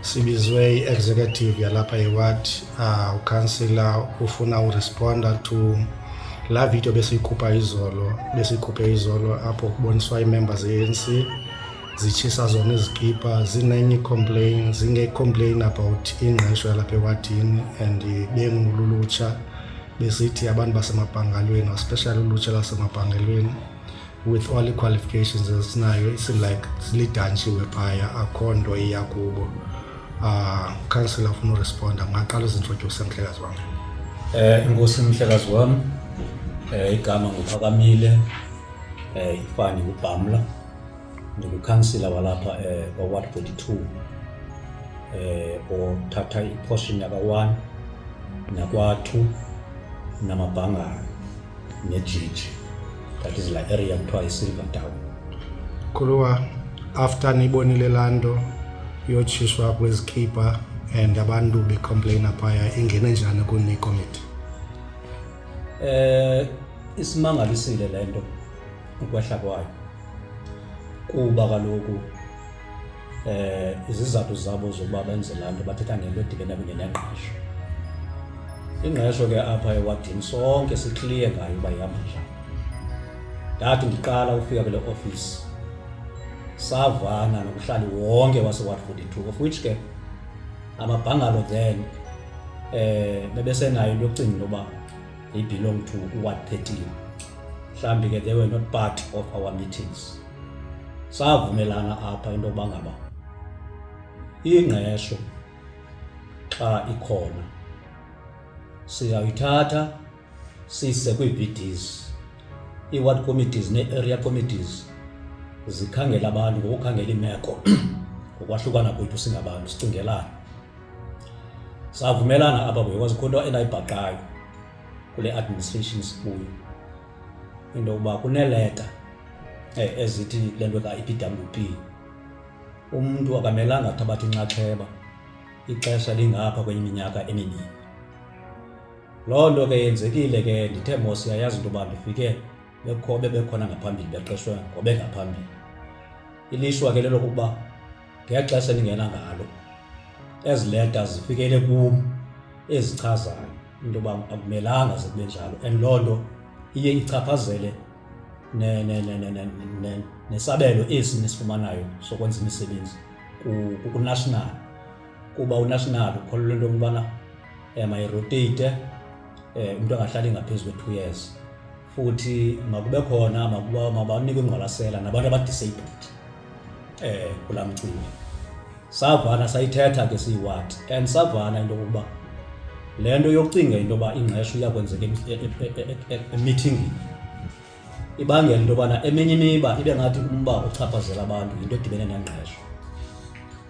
sibizwe i-executive yalapha eward uh, ah, ukhansila ufuna uresponda to laa video besiyikhupha izolo besiyikhuphe izolo apho kuboniswa iimemba ze-anc zitshisa zona izikipa zinenye icomplain zingecomplain about ingqesho yalapha ewadini and bengululutsha besithi abantu basemabhangalweni especially ulutsha lasemabhangelweni with all i-qualifications esinayo isin like silidanshiwe phaya akho nto iya kubo um council afuna uresponda mngaqala uzintrodyuse mhlekazi wam um inkosi mhlekazi wam um igama nguphakamile um ifani ngubhamla ndingukhansila walapha um kwaward forty two um othatha iportion yaka-one nakwa-two namabhangana nejiji that is like area kuthiwa isilver town khuluwa after niyibonile laa nto yotshiswa kwezikhipha and abantu becomplaina phaya ingene njani kuni committee eh isimangalisile le nto ukwehla kwayo kuba kaloku eh izizathu zabo zokuba benze laa nto bathetha ngento edibene kunye nengqesho ingqesho ke apha ewadini sonke sikliye ngayo uba ihamba njani ndathi ndiqala ukufika kule ofisi savana nokuhlali wonke waseward 42 of which ke amabhangalo then eh bebesenayo into yokucinga into yoba they belong to uward 13 mhlawumbi ke they were not part of our meetings savumelana apha into yokuba ngaba ingqesho xa ikhona siyayithatha siyise kwii-vds ii-ward committees nee-area committees zikhangela abantu ngokukhangela iimeko ngokwahlukana kwethu singabantu sicingelana savumelana apha because khona into endayibhaqayo kule administration sikuyo into yokuba kuneeleta eh, ezithi le nto ka-EPWP umntu akamelanga athabathe inxaxheba ixesha lingapha kwenye iminyaka emibini loo nto ke yenzekile ke ndithe mos yayazi into yoba ndifike bekho bebekhona ngaphambili beqeshwe ngobengaphambili ilishwa ke lelokuba ngexesha elingena ngalo ezi leta zifikele kum ezichazayo into yoba akumelanga zikube njalo and loo nto iye ichaphazele nesabelo esi nisifumanayo sokwenza imisebenzi kunational kuba unational ukholelwa into yokubana um eh, ayirotate um eh, umntu angahlali ngaphezu kwe-two years futhi makube khona makuba mabanikwe ingqwalasela nabantu abadisabled eh kula mcimbi savana sayithetha ke siyiwati and savana into yokuba le nto yokucinga into yoba ingqesho iyakwenzeka emithingini ibangela into yobana eminye imiba ibe ngathi umba ochaphazela abantu yinto edibene nengqesho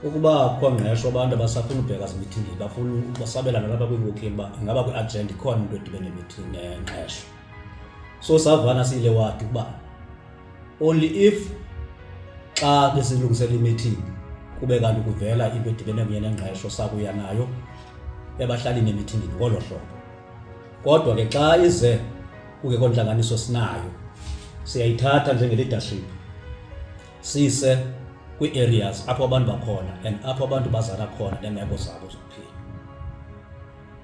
Ukuba akukho ngqesho abantu abasafuna ubheka zimithingi bafuna basabelana lapha kwiwokini uba ingaba kwi-agenda ikhona into edibene nengqesho so savana siyile wadi ukuba only if xa besilungisela imithingi kube kanti kuvela into edibene kunye nengqesho sakuya nayo ebahlalini emithingini ngolo hlobo kodwa ke xa ize kungekho ntlanganiso sinayo siyayithatha njengeleadership sise kwii-areas apho abantu bakhona and apho abantu bazala khona neemeko zabo zokuphila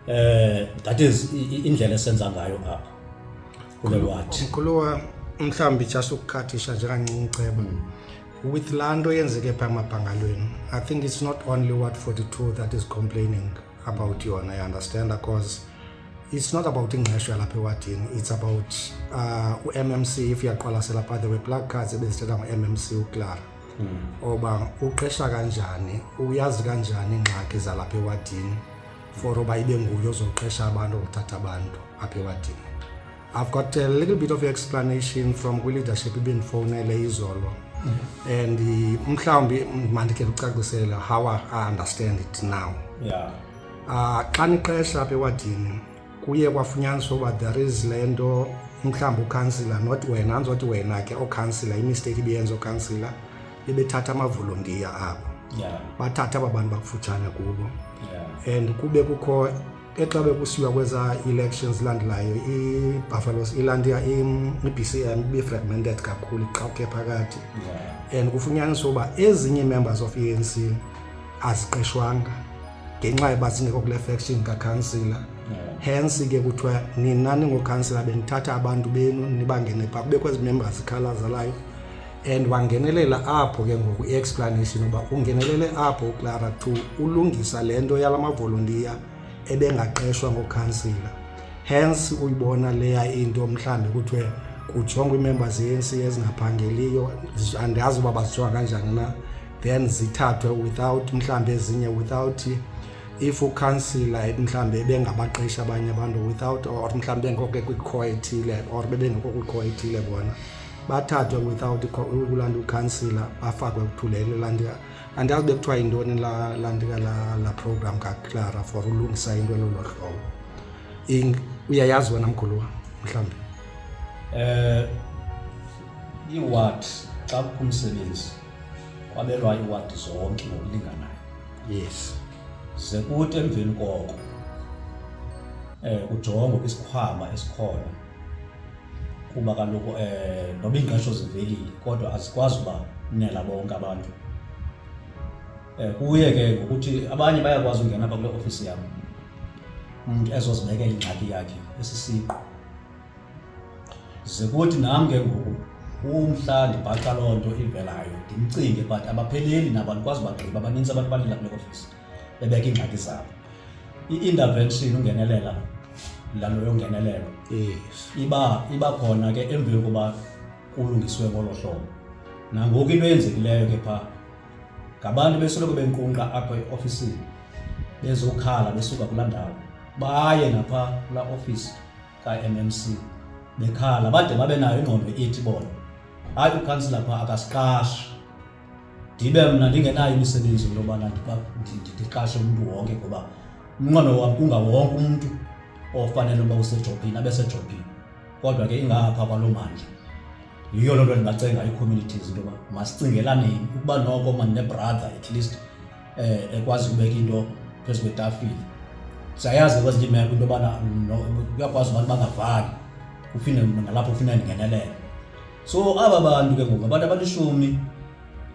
eh that is indlela esenza ngayo apha kule wathi mkhuluwa mhlawumbi just ukukhathisha njengancinci ceba hmm. with laa nto yenzeke phaa emabhangalweni i think it's not only what 42 that is complaining about you and I understand because it's not about ingqesho yalapha ewadini it's about uh, ummc if uyaqwalasela by the way black cards ebezithetha ngommc uclara hmm. oba uqesha kanjani uyazi kanjani ingxaki zalapha ewadini for uba ibe nguye ozoqesha abantu othatha abantu apha ewadini I've got a little bit of explanation from kwi-leadership ibendifowunele izolo mm-hmm. and mhlawumbi mandikhe kucacisela how i understand it now yeah. uh, xa niqesha apha ewadini kuye kwafunyaniswa uba there is le nto mhlawumbi ukhansila not wena andizothi wena ke okhansila imisteyiki ibiyenza okhansila bebethatha amavolontiya abo yeah. bathatha aba bantu bakufutshane kubo yeah. and kube kukho ke xa bekusiwa kweza elections landelayo ibuffaloes ilandia i-bcm ibe-fragmented kakhulu iqhawuke phakathi and kufunyaniswa uba ezinye members of e-anc aziqeshwanga ngenxa yoba zingekho kule faction kakhansila hence ke kuthiwa nina ningokhansila benithatha abantu benu nibangene pha kubekho ezi members ikhala zalayo and wangenelela apho ke ngoku i-explanation uba ungenelele apho uclara to ulungisa le nto yala mavolontiya ebengaqeshwa ngokhansila hence uyibona leya into mhlawumbi kuthiwe kujongwa ii-members ye-anc ezingaphangeliyo andazi uba bazijonga kanjani na then zithathwe without mhlawumbi ezinye without if ukhansila mhlawumbi ebengabaqeshi abanye abantu without or mhlawumbi bengekho kwikhoethile or bebengekho kwikhoethile bona bathathwe without ukulanda ukhansila bafakwe kuthulelo lanti andazi bekuthiwa yintoni lantika la program kaclara for ulungisa into elolo hlobo uyayazi wena mguluwa mhlawumbi um eh, iwat xa kukho umsebenzi kwabelwa iwat zonke ngokulinganayo yes ze kuthi emveni koko um kujongwe kwisikhwama esikhona kuba kaloku um noba iingqesho zivelile kodwa azikwazi uba nela bonke abantu um kuye ke ngokuthi abanye bayakwazi ungena apha kule ofisi yam umntu ezozibekela ingxaki yakhe esisiqu ze kuthi nam ke ngoku umhla ndibhaqa loo nto ivelayo ndimcinge but abapheleli nabo andikwazi bagqiba baninzi abantu balila kule ofisi bebeka iingxaki zabo i-intervention ungenelela lalo yongenelelo iba iba khona ke emveni kokuba kulungiswe ngolo hlobo nangoku into eyenzekileyo ke phaa ngabantu besoloko benkunqa apho eofisini bezokhala besuka kulaa ndawo baye napha kulaa ofisi ka-mmc bekhala bade babe nayo ingqondo ethi bona hayi ukhansila phaa akasiqashi ndibe mna ndingenayo imisebenzi into yobana ndiqashe umntu wonke ngoba umnqweno wam kungawonke umntu ofanele uba usejobhini abe sejobhini kodwa ke ingapha kwaloo mandla yiyo loo nto ndingacenga ii-communities into yoba masicingelaneni ukuba noko mani nebrother at least eh ekwazi ukubeka into phezu kwetafile siyayazi kwezinye imeko into yobana kuyakwazi abantu bangavani uphinde nalapho ufuna ndingenelele so aba bantu ke ngoku abantu abalishumi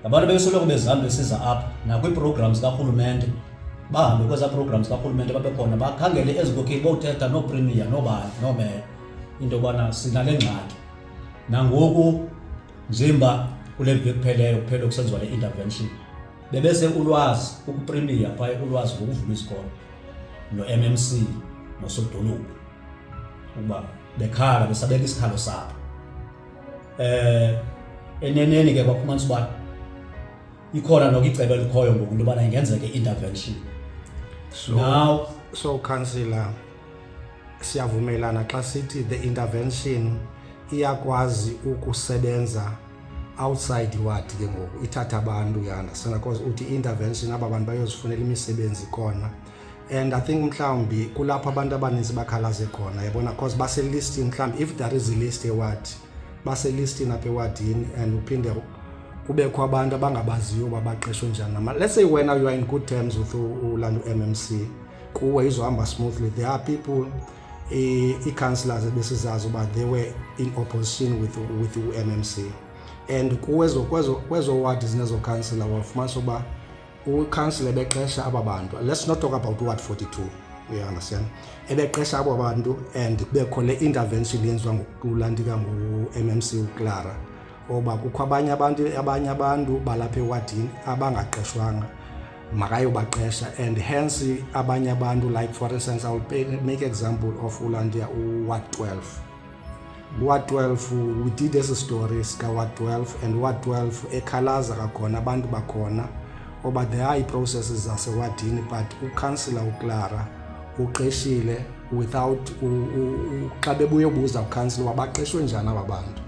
ngabantu bebesoloko bezihamba besiza apha nakwiiprograms zikarhulumente bahambe kwezaa programs zikarhulumente babe khona bakhangele ezinkokheli bothetha nooprimiya noobani noomeya into yobana sinale ngxaki nangoku njemba kule mvi ekupheleyo kuphele kusenziwa le intervention bebese ulwazi ukuprimiya phaya ulwazi ngokuvula isikolo no-mmc nosodolophu uba bekhala besabeka isikhalo sabo eh eneneni ke kwafumanisa uba ikhona noko icebo elikhoyo ngoku into yobana ingenzeke intervention so, now so councillor siyavumelana xa sithi the intervention iyakwazi ukusebenza outside iward ke ngoku ithatha abantu yana sena cause uthi intervention aba bantu bayozifunela imisebenzi khona and i think mhlawumbi kulapho abantu abaninzi bakhalaze khona yabona because baselistini mhlawumbi if there is ilist ewadi baselistini apha ewadini and uphinde kubekho abantu abangabaziyo uba baqeshwe njani nama let's say wena you are in good terms with ulanda u-m c kuwe izohamba smoothly there are people ii-councillors ebesizazi uba they were in opposition with, with u-m m c and kuwe kwezowadi zinezokhansila wafumanisa uba ukhansila ebeqesha aba bantu let's not talk about ward 42 you understand ebeqesha abo bantu and kubekho le intervention yenziwa ngokulantika ngu-mmc uclara oba kukho abanye abantu abanye abantu balapha ewadini abangaqeshwanga makayobaqesha and hence abanye abantu like for instance i will make example of ulandia uward 12 Ward 12 we did esi story sika Ward 12 and Ward 12 ekhalaza kakhona abantu bakhona oba there are iprocesses zasewadini but ukhansila uclara uqeshile without xa bebuye ubuza ukhansila uba baqeshwe njani aba bantu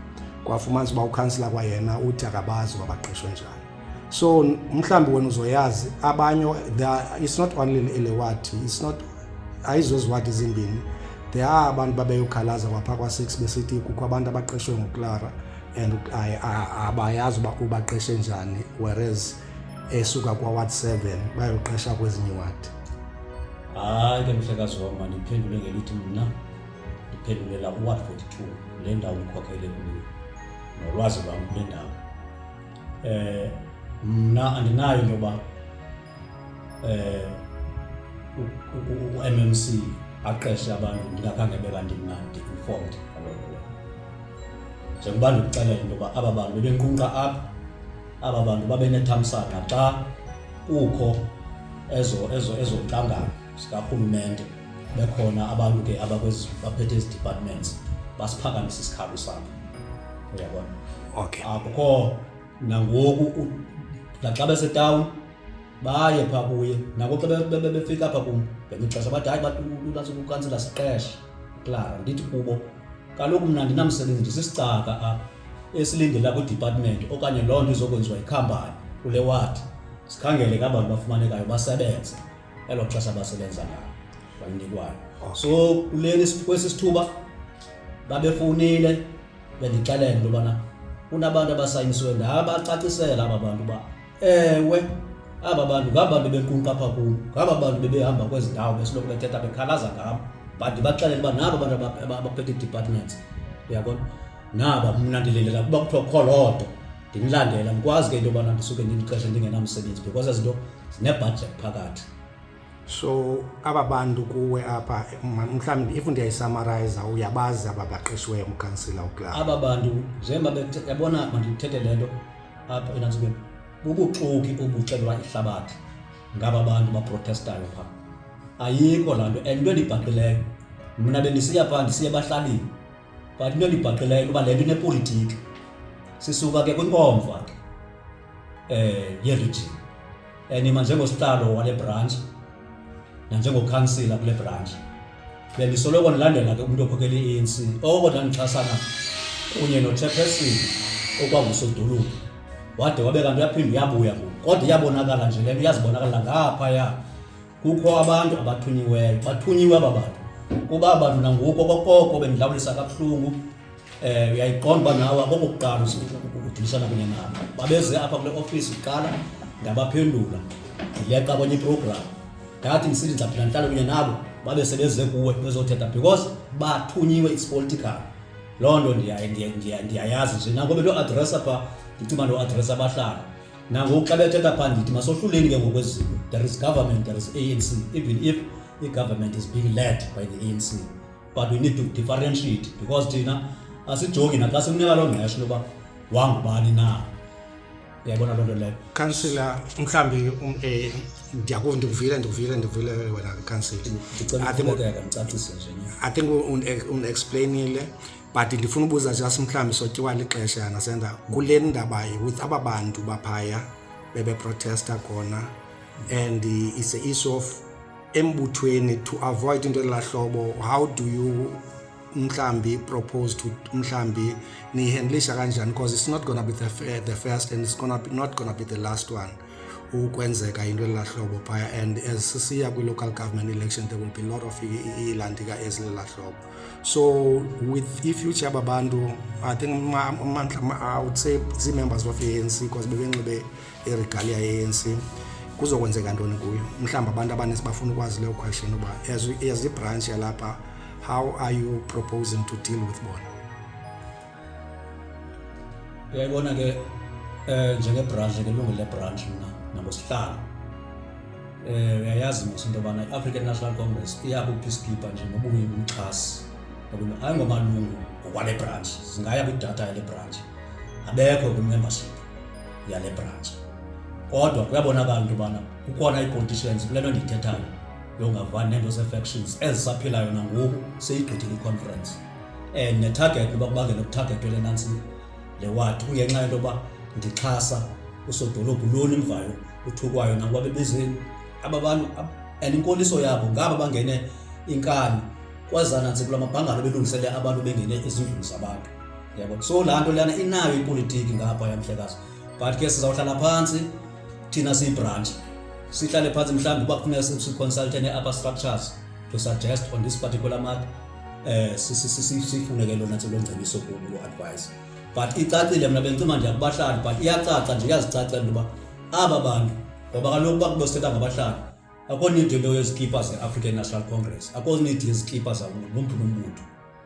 kwafumanisa uba ukhansila kwayena uthi akabazi uba baqeshwe njani so mhlawumbi wena uzoyazi abanye it's not only elewadi it's not ayizoziwadi zimbini there are abantu babeyokhalaza kwapha kwa-six besithi kukho abantu abaqeshwe nguclara and abayazi uba ubaqeshe njani whereas esuka kwaward seven bayoqesha kwezinye iwadi hayi ke mhlekazi wam mandiphendule ngelithi mna ndiphendulela uward forty two le ndawo ndikhokhele kuyo nolwazi lwam kule ndawo eh, mna andinayo into yoba eh, u-MMC aqeshe abantu ndingakhange beba ndimnandi informed ngaloo njengoba ndikuxelela into yoba aba bantu bebenqunqa apha aba bantu babenethamsanqa xa kukho ezo ezo ezo sikarhulumente bekhona abantu ke abaphethe ezi departments basiphakamise isikhalo sakho uyabona okay akukho nangoku naxa besetawuni baye phaa kuye nako xa befika apha kum ngenye ixesha bathi hayi bakukansela siqeshe klara ndithi kubo kaloku mna ndinamsebenzi ndisisicaka apha esilindela kwidepartment okanye loo nto izokwenziwa yikhampani kule wadi sikhangele ke abantu bafumanekayo basebenze elo xesha basebenza ngalo balinikwayo so kuleli kwesi sithuba babefowunile bendixelela into yobana kunabantu abasayinisiwe ndabacacisela aba bantu uba ewe aba bantu ngaba bantu bequnqa apha kum ngaba bantu bebehamba kwezi ndawo besiloko bethetha bekhalaza ngam but ndibaxelele uba naba bantu abaphethe ii-departments uyabona naba mna ndilindelela kuba kuthiwa kukho loo nto ndimlandela ndikwazi ke into yobana ndisuke ndilixesha ndingenamsebenzi because ezi nto zinebhajet phakathi so aba bantu kuwe apha mhlawumbi if ndiyayisummariza uyabazi aba baqeshiweyo umkhansila ukla aba bantu njengoba yabona mandithethe le nto apha enantsukeni bubuxoki obuxelwa ihlabathi ngaba bantu baprotestayo phaa ayikho laa nto and into endibhaqileyo mna bendisiya phaa ndisiye bahlalini but into endibhaqileyo kuba le nto inepolitiki sisuka ke kwinkomfa ke um yerijini enima njengosihlalo wale brantshi nanjengokhansila kule brantshi bendisoloko ndilandela ke umntu okhokela i-anc oko ndandixhasana kunye nochairperson okwangusodolophu wade wabe kanti uyaphinde uyabuya ngoku kodwa iyabonakala nje le nto iyazibonakala ngaphaya Kukho abantu abathunyiweyo, bathunyiwe aba bantu kuba abantu nangoku okokoko bendilawulisa kabuhlungu um eh, uyayiqonda uba nawe akokokuqala udilisana kunye nabo babeze apha kule ofisi kuqala ndabaphendula ndileqa kwenye iprogramu ndathi ndisithi ndizaphinda ndihlale kunye nabo babe sebeze kuwe bezothetha because bathunyiwe it's political loo nto ndiyayazi nje nangobe lo adressa pha ndicinga ndo adressa abahlala nangoku xa bethetha phaa ndithi masohluleni ke ngokwezinto there is government there is anc even if i-government is being led by the anc but we need to differentiate because thina asijongi naxa simnika loo ngqesho loba wangubani na uyayibona loo nto leyo kansila mhlawumbi um, eh, ndiyakuva ndikuvile ndikuvile ndikuvile wena kansila ndicela ndicacise nje i think undexplainile but ndifuna ubuza just mhlawumbi sotyiwa lixesha yana senda kule ndaba with aba bantu baphaya bebeprotesta khona and it's a issue of embuthweni to avoid into elaa hlobo how do you mhlambi propose to mhlambi niyihandlisha kanjani because it's not gonna be the, the first and it's gonna be, not gonna be the last one ukwenzeka into elela hlobo phaya and as sisiya kwi-local government election there will be a lot of iilandika ezilela hlobo So with i-future babantu, I think amandla I would say zii-members of i-ANC because bebenxibe iregalia ye-ANC kuzokwenzeka ntoni kuyo mhlawumbi abantu abaninzi bafuna ukwazi leyo question uba as ibranch yalapha how are you proposing to deal with bona uyayibona-ke um njengebranch ke lungile branch mna nangosihlalo um uyayazi mos into yobana i-african national congress iyakupeacekeeper nje nobuyi umxhasi ayingomalungu ngokwale branch zingaya kwidata yale branch abekho kwimembership yale branch kodwa kuyabonakala into yobana kukhona ii-politicians kule nto ndiyithethayo yongavani neento zee-factions ezisaphilayo nangoku seyigqithile iconference and netarget uba kubangela ukutargetwe le nantsi le wadi kungenxa yento yoba ndixhasa usodolophu loni mvayo uthukwayo nakuba bebezeni aba bantu and inkoliso yabo ngaba bangene inkani kwazana nje kula mabhangalo belungisele abantu bengene ezindlini zabantu yabo so laa nto leyana inayo ipolitiki ngapha yamhlekazi but ke sizawuhlala phantsi thina siyi-branch sihlale phantsi mhlawumbi uba kufuneka siconsultene upper structures to suggest on this particular matter eh sifune ke lona tse longcebiso kulo advice but icacile mna bendicima nje kubahlali but iyacaca nje iyazicaca into yoba aba bantu ngoba kaloku uba kubosithetha ngabahlali akho need into yezikipa ze-african national congress akho need yezikipa zawomphi nombutho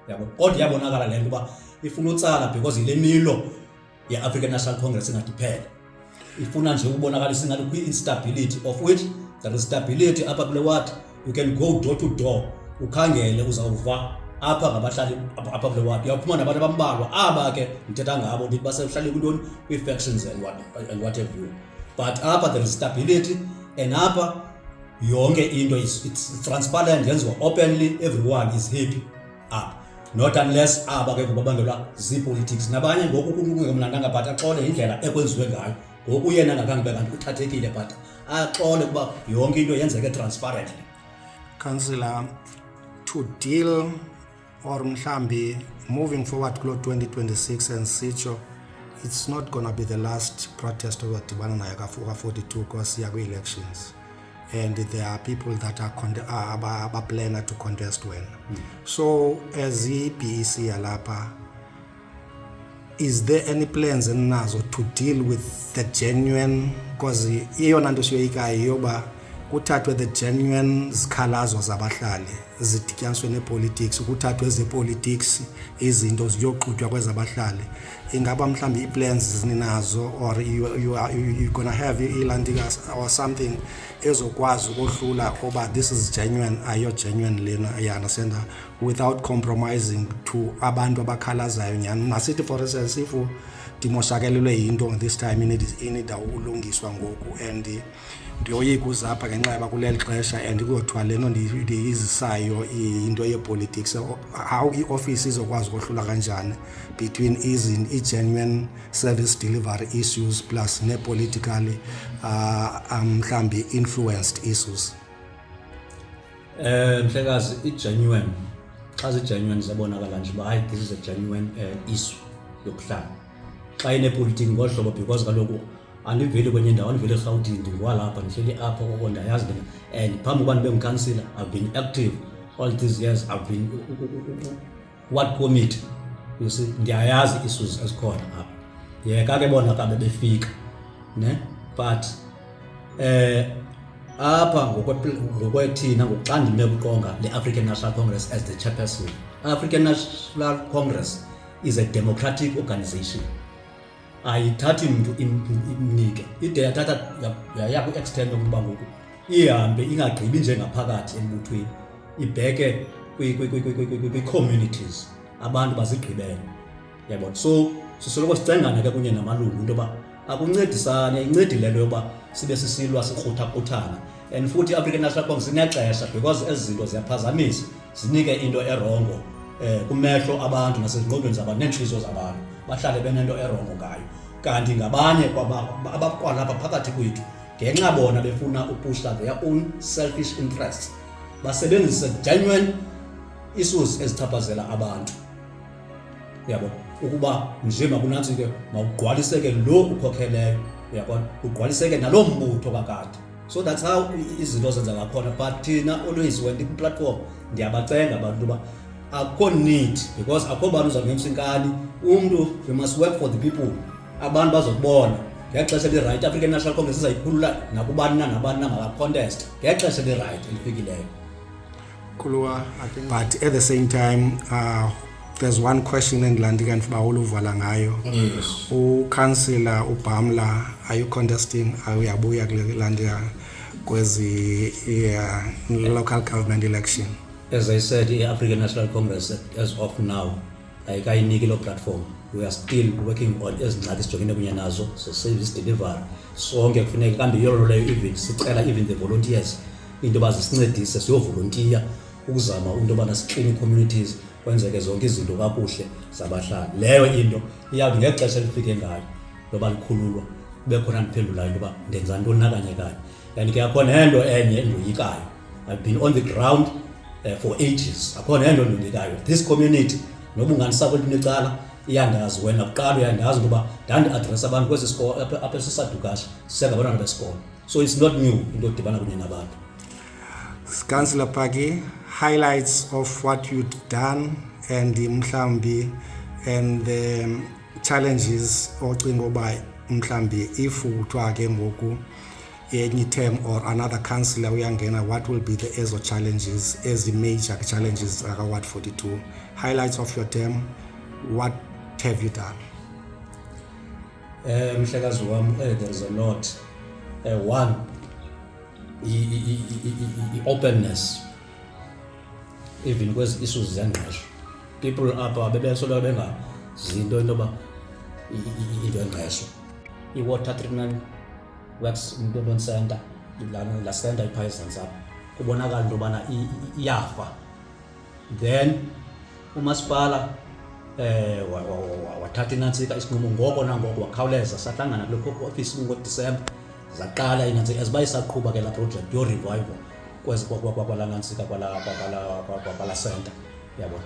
yabo kodwa iyabonakala le nto uba ifuna utsala because yile milo ye-african national congress ingathi phela ifuna nje ukubonakalisa ingathi kwi-instability of which there is stability apha kule ward you can go door to door ukhangele uzawuva apha ngabahlali apha kule ward uyaphuma nabantu abambalwa aba ke ndithetha ngabo ndithi basehlale kwintoni kwii-factions and what, and what have you but apha there is stability and apha yonke into is it's transparent yenziwa openly everyone is happy ah not unless aba ke kubabangelwa zii-politics nabanye ngoku kungemnandanga but axole indlela ekwenziwe ngayo ngoku yena ngakhange be kanti uthathekile but axole kuba yonke into yenzeke transparently councillor to deal or mhlambi moving forward kulo 2026 and sitsho it's not gonna be the last protest ozodibana nayo ka-42 kwasiya kwi-elections and there are people that are, con- are, are, are planner to contest well mm. so as i-bec yalapha is there any plans eninazo to deal with the genuine because iyona nto siyoyikayo yoba kuthathwe the genuine zikhalazo zabahlali zidityaniswe neepolitics kuthathwe ezepolitics izinto ziyoxutywa kwezabahlali ingaba mhlawumbi ii-plans zininazo or you, you, are, you, you gonna have ilantika or something ezokwazi ukohlula oba this is genuine ayo genuine lena you understand without compromising to abantu abakhalazayo nyhani masithi for instance if ndimoshakelelwe yinto this time inida ulungiswa ngoku and ndiyoyika uzapha ngenxa yoba kuleli xesha and kuyothiwa le nto ndiyizisayo into yepolitics how iofisi izokwazi ukohlula kanjani between i-genuine service delivery issues plus neepolitically uh, um, mhlawumbi um, influenced issues um mhlekazi i-genuine xa zi-genuine ziyabonakala nje uba hayi this is a genuine uh, issue yokuhlala xa inepolitiki ngolu hlobo because kaloku andiveli kwenye ndawo andiveli erhawutini ndingwalapha ndihleli apha koko ndayazi lena and phambi koba ndibe ngukhansila i've been active all these years i've been what committee you see ndiyayazi isuzi ezikhona apha yeka ke bona kabe befika ne but eh apha ngokwethina ngokuxa ndime kuqonga le-african national congress as the chairperson african national congress is a democratic organization ayithathi mntu imnike ide yathatha yaya kwi-extent yokuba ngoku ihambe ingagqibi njengaphakathi embuthweni ibheke kwii-communities abantu bazigqibele yabona so sisoloko sicengana ke kunye namalungu into yoba akuncedisane incedi le nto yoba sibe sisilwa sikruthakruthayo and futhi i-african national congress inexesha because ezi zinto ziyaphazamisa zinike into erongo um kumehlo abantu nasezingqondweni zabantu neentliziyo zabantu bahlale benento erongo ngayo kanti ngabanye abakwalapha phakathi kwethu ngenxa bona befuna upushla their own selfish interests basebenzise genuine issues ezichaphazela abantu yabo ukuba nje makunantsike mawugqwaliseke lo ukhokheleyo uyabona kugqwaliseke naloo mbutho kakade so that's how izinto zenza ngakhona but thina always when ndikwi-platform ndiyabacenga abantu uba akho need because akho bantu uzawungemsa inkani umntu we must work for the people abantu bazokubona ngexesha lirayithi african national congress izayikhulula nakubani na nabani na makacontest ngexesha lirayithi elifikileyo Kulua, I think. But at the same time, uh, there's one question endilandi kanti uba uluvala ngayo yes. ukansila ubhamla are you contesting uyabuya kule landia kwezi yeah, local government election as i said i-african national congress as of now ayikayiniki loo platform we are still working on ezi ngxaki sijongene kunye nazo ze-service delivery sonke kufuneka kambi yolo leyo even sicela even the volunteers into yoba zisincedise siyovolontiya ukuzama into yobana sikline ii-communities kwenzeke zonke izinto kakuhle zabahlali leyo into iyawuthi ngexesha elifike ngayo loba likhululwa kube khona ndiphendulayo into yoba ndenza ntoni nakanye kanye and ke akho nento enye endoyikayo i've been on the ground uh, for ages akho nento endoyikayo this community noba unganisako elinecala iyandazi wena kuqala uyandazi ukuba ndandiadressa abantu kwesi sikolo apha esisadukasha sisengabantwana besikolo so it's not new into odibana kunye nabantu Councillor Paki, highlights of what you've done and mhlambi and the um, challenges ocinga uba mhlambi if kuthiwa ke ngoku any term or another councillor uyangena what will be the ezo challenges ezi major challenges zaka-ward 42 highlights of your term what have you done Eh, mhlekazi wam eh, there is a lot eh, one i-openness even kwezi issues zengqesho people apha bebesolwa bengazinto into yoba into engqesho i-water treatment works mntondon center la center ipha ezantsi apha kubonakala into yobana iyafa then umasipala eh wathatha inantsika isinqumo ngoko nangoko wakhawuleza sahlangana kule office ngoDisemba zaqala inantsika as bayisaqhuba ke la project yo revival kwezi kwakwala nantsika kwala kwala kwala center yabo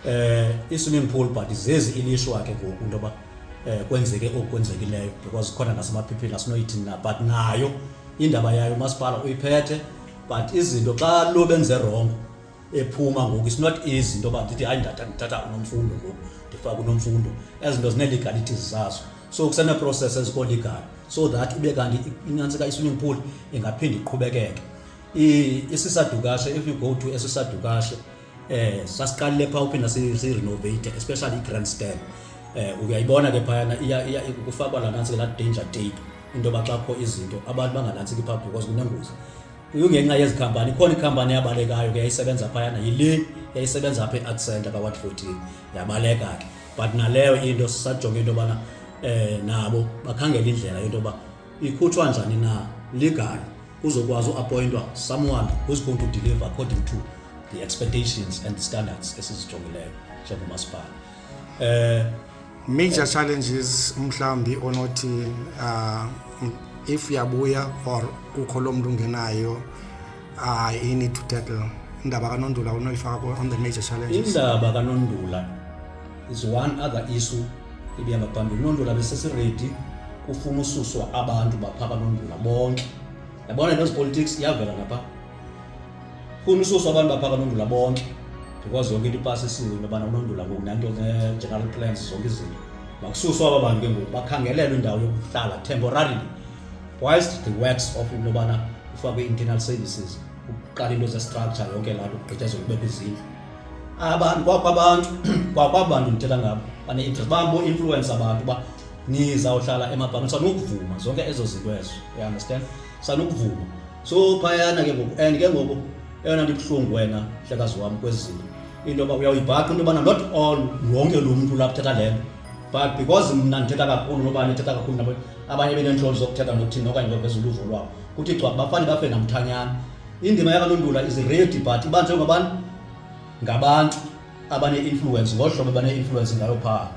eh i-swimming pool but zezi ilishwa ke ngoku into yoba eh kwenzeke okwenzekileyo because khona nasemaphiphini asinoyithini na but nayo indaba yayo umasipala uyiphethe but izinto xa lo benze wrong ephuma ngoku it's not easy into yoba ndithi hayi ndathatha unomfundo ngoku ndifaka unomfundo ezi zinto zinee-legalities zazo so kusenee-process ezikoo-legal so that ube kanti inantsika i-swimming pool ingaphinde iqhubekeke isisadukashe if you go to esisadukashe eh sasiqalile pha uphinda si-renovate especially i-grand stand eh uyayibona ke phayana iya kufakwa la nantsika la danger tape into yoba xa kukho izinto abantu banganantsiki pha because kunengozi Kungenxa yezi khampani ikhona ikhampani yabalekayo ke yayisebenza phayana yile yayisebenza apha e-accent apha kwa-14 yabaleka ke but naleyo into sisajonge into yobana um nabo bakhangela indlela into yoba ikhutshwa njani na legal kuzokwazi uappointwa someone who's going to deliver according to the expectations and the standards esizijongileyo njengomasipala eh major challenges mhlambi onothi uh, if uyabuya or kukho lo mntu ungenayo uh, you need to tackle indaba kanondula unoyifaka on the major challenges indaba kanondula is one other issue ibihamba phambili unondula besesiredi kufuna ususwa abantu bapha kanondula bonke yabona nezipolitics iyavela napha Kunisusa abantu bapha kanondula bonke because yonke into ipasi isiwe into yobana unondula ngoku nanto ne-general plans zonke izinto makususwa aba bantu ke ngoku bakhangelelwe indawo yokuhlala temporarily whilst the works of into yobana kufakwe i-internal services ukuqala into zestructure yonke laa nto kugqityezo kubekho izindlu abantu kwakho abantu kwakho abantu ndithetha ngabo bane-interest bambo-influence abantu uba nizawuhlala emabhangiswa nokuvuma zonke ezo zinto ezo you understand sanukuvuma so phayana ke ngoku and ke ngoku eyona nto ibuhlungu wena hlekazi wam kwezi zinto into yoba uyawuyibhaqa into yobana not all wonke lo mntu lapho uthetha le nto but because mna ndithetha kakhulu nobani ethetha kakhulu nabo abanye beneentloni zokuthetha nokuthini okanye baveza uluvo lwabo kuthi gcwaba bafane bafe namthanyana indima yakalondula is ready but ibanjwe ngabantu ngabantu abane-influence ngolu hlobo bane-influence ngayo phaa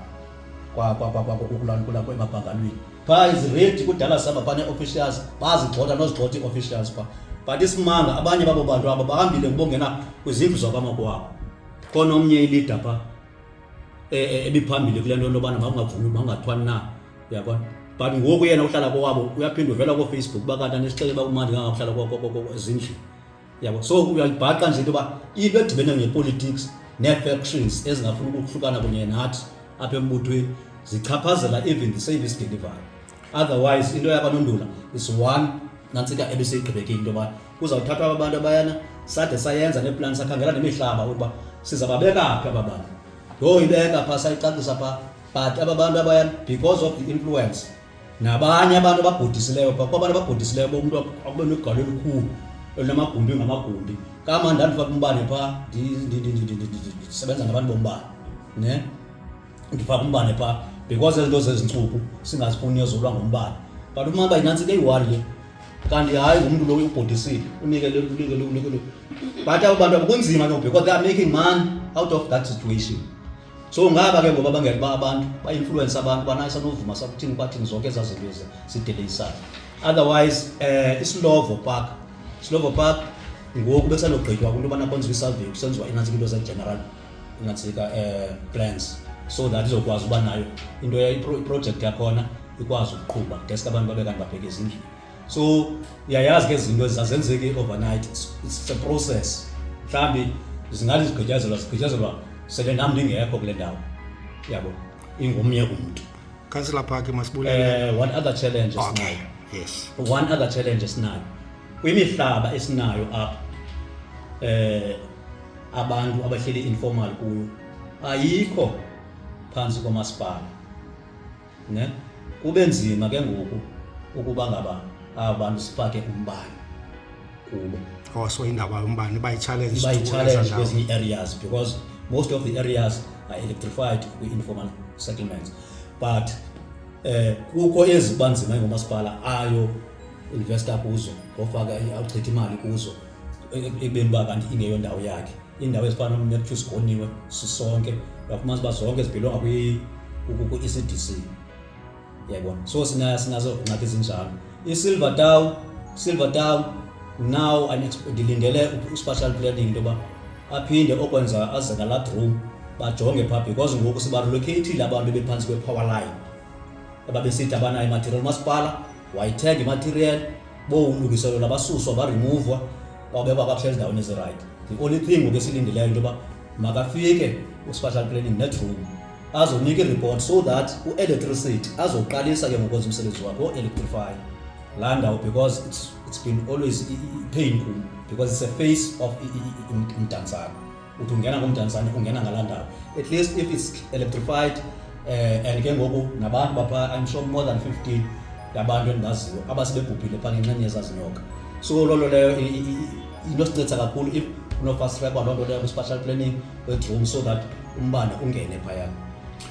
kwakwakwakwakukulaa emabhangalweni phaa iziredi kudala saba banee-officials bazigxotha nozigxotha ii-officials phaa but isimanga abanye babo bantu aba bahambile ngibongena kwizindlu zabamakwabo khona omnye ilida phaa e, e, ebiphambili kule nto lobana makungavumi makungathwani na uyabona but ngoku yena uhlala kowabo uyaphinde uvela koofacebook uba kanti anisixele uba kumandi kangakuhlala ezindlini yabo so uyalibhaqa nje into yoba into edibene ngepolitics nee-factions ezingafuni ukuhlukana kunye nathi apha embuthweni zichaphazela even the service delivery otherwise into yakanondula is one nantsika ebiseyigqibekile into yoba kuzawuthathwa aba bantu abayana sade sayenza neplani sakhangela nemihlaba ukuba sizababeka phi aba bantu yho ibeka phaa sayicacisa phaa but aba bantu abayana because of the influence nabanye abantu ababhodisileyo phaa kwabantu ababhodisileyo bomntu akube negalo elikhulu elinamagumbi ngamagumbi kama ndandifaka umbane phaa ndisebenza ngabantu bombane ne ndifaka umbane phaa because ezinto zezintsuku singazifuni yozulwa ngombane but uma uba inantsi ke iwari le kanti hayi ngumntu lowo ubhodisile unikele unikele unikele but abo bantu akunzima no because they are making money out of that situation so ngaba ke ngoba bangeli ba abantu ba-influence abantu banaye sanovuma sakuthini kwathini zonke ezaa zinto ezi sideleyisayo otherwise um isilovo park isilovo park ngoku besanogqitywa kwinto yobana kwenziwa isurvey kusenziwa inantsika into zegeneral inantsika um eh, plans so that izokwazi uba nayo into iprojekthi yakhona ikwazi ukuqhuba deske abantu babe kanti babheke ezindlini so uyayazi ke zinto zazenzeki overnight it's a process mhlambi zingathi zigqityazelwa zigqityazelwa sele nam ndingekho kule ndawo yabo ingomnye umntu councillor park masibulele uh, one other challenge okay. esinayo yes one other challenge esinayo kwimihlaba esinayo apha eh abantu abahleli informal kuyo ayikho phansi komasipala ne kube nzima ke ngoku ukuba ngaba aba bantu sifake umbane kubo also indaba yombane iba yi-challenge iba yi-challenge kwezinye areas because most of the areas are electrified kwi-informal settlements but eh kukho eziba nzima ngomasipala ayo investor kuzo ngofaka awuchitha imali kuzo ekubeni uba kanti ingeyo ndawo yakhe iindawo ezifana nomertyw sigoniwe sisonke uyafumanisa uba zonke zibhilonga kwi-ecdc yayibona so sinazo ngxaki ezinjalo isilver town silver town now ndilindele uspatial planning into yoba aphinde okwenza aze ngalaa room bajonge phaa because ngoku sibarelocatile abantu bephantsi kwe-power line ababesithi abanayo imaterial umasipala wayithenga imaterial bowumlungiselela basuswa baremuvwa babekwa kakuhle ezindaweni ezirayithi the only thing ngoku esilindileyo into yoba makafike uspatial planning netroom azonika ireport so that uelectricity azoqalisa ke ngokwenza umsebenzi wakhe o-electrify laa ndawo because it's, it's been always pain kum because it's a face of mdantsana uthi ungena kumdantsane ungena ngalaa ndawo at least if it's electrified uh, and ke ngoku nabantu bapha i'm sure more than 15 yabantu endibaziyo abasebebhubhile phaa ngenxeni yezazinyoka so loo nto leyo into sincedisa kakhulu if unofast track waloo nto leyo kwi-spatial planning bedroom so that umbane ungene phayana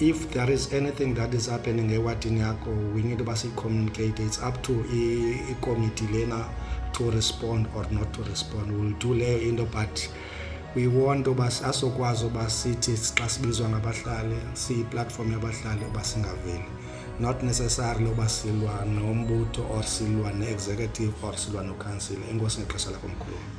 if there is anything that is happening ewadini yakho we need uba siyicommunicate it's up to ikomiti lena to respond or not to respond will do leyo into but we want uba asokwazi uba sithi xa sibizwa ngabahlali siyiplatform yabahlali uba singaveli not necessarily uba silwa nombutho or silwa ne-executive or silwa nokhansile enkosi ngexesha lakho mkhulu